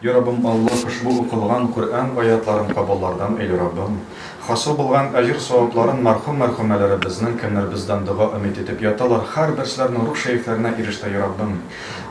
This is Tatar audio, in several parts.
Йа Раббым Аллаһ ошбу укылган Коръән аятларын кабуллардан эйли Раббым, хасыл булган әҗер-савапларын мәрхүм мәрхүмәләребезнең кемнәр бездән дога өмит итеп яталар хәр берсләрнең рух шәефләренә ирештә Йа Раббым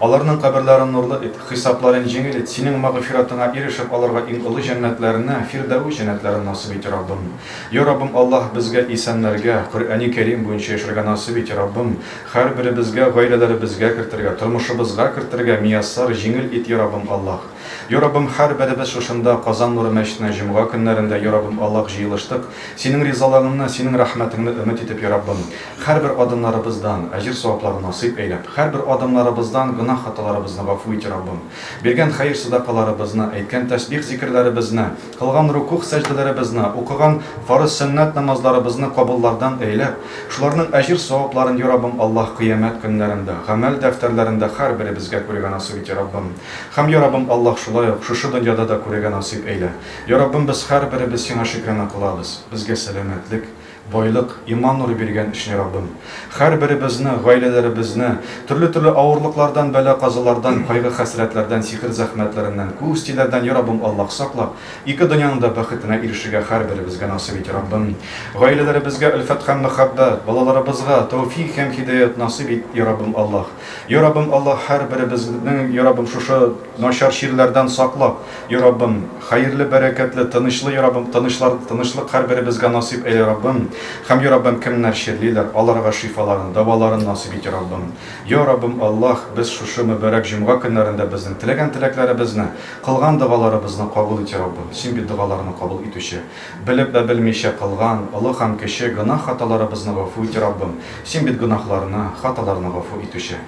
аларның каберләрен нурлы ит, хисапларын җиңел ит, синең магъфиратыңа ирешеп аларга иң олы җәннәтләрне, фирдәвес җәннәтләрен насыйп ит Йа Раббым. Йа Раббым Аллаһ безгә исәнләргә, Коръәни Кәрим буенча яшәргә насыйп ит Йа Раббым, Хәрберебезгә гаиләләребезгә кертергә, тормышыбызга кертергә мияссар җиңел ит Яраббым Аллаһ. Яраббым хәрберебез шушында Казан нуры мәчетенә җомга көннәрендә Яраббым Аллаһ җыелыштык, Синең ризалыгыңны, Синең рәхмәтеңне өмет итеп Яраббым, хәрбер адымнарыбыздан әҗер-саваплар насыйп әйләп, хәрбер адымнарыбыздан гөнаһ хаталарыбызны гафу ит Яраббым. Биргән хәер-садакаларыбызны, әйткән тәсбих-зикерләребезне, Кылган рукугъ-сәҗдәләребезне, укыган фарыз-сөннәт намазларыбызны кабуллардан әйләп, шуларның әҗер-савапларын, йа Раббым Аллаһ, кыямәт көннәрендә, гамәл дәфтәрләрендә һәрберебезгә күрергә насыйп ит, йа Раббым. Һәм, йа Раббым Аллаһ, шулай ук, шушы дөньяда да күрергә насыйп әйлә. Йа Раббым, без һәрберебез Сиңа шөкранә кылабыз, безгә сәламәтлек, Байлык, иман нуры биргән өчен Раббым, хәрберебезне, гаиләләребезне төрле-төрле авырлыклардан, бәла-казалардан, кайгы-хәсрәтләрдән, сихер-зәхмәтләреннән, күз тиләрдән, йа Раббым, Аллаһ, саклап, ике дөньяның да бәхетенә ирешергә хәрберебезгә насыйп ит, Раббым. Гаиләләребезгә өлфәт һәм мәхәббәт, балаларыбызга тәүфигъ һәм һидаять насыйп ит, йа Раббым, Аллаһ. Йа Раббым, Аллаһ, һәрберебезнең, йа Раббым, шушы. Начар чирләрдән сакла, и Раббым, хәерле, бәрәкәтле, тынычлы, и Раббым, тынычлар, тынычлык һәрберебезгә насыйп әйлә, Раббым, һәм, и Раббым, кемнәр чирлиләр, аларга шифаларын, дәваларын насыйп ит, и Раббым. Я Раббым Аллаһ, без шушы мөбарәк җомга көннәрендә безнең теләгән теләкләребезне, кылган догаларыбызны кабул ит, и Раббым, Син бит догаларны кабул итүче. Белеп вә белмичә кылган, олы һәм кече, гөнаһ-хаталарыбызны гафу ит, и Раббым, Син бит гөнаһларны, хаталарны гафу итүче.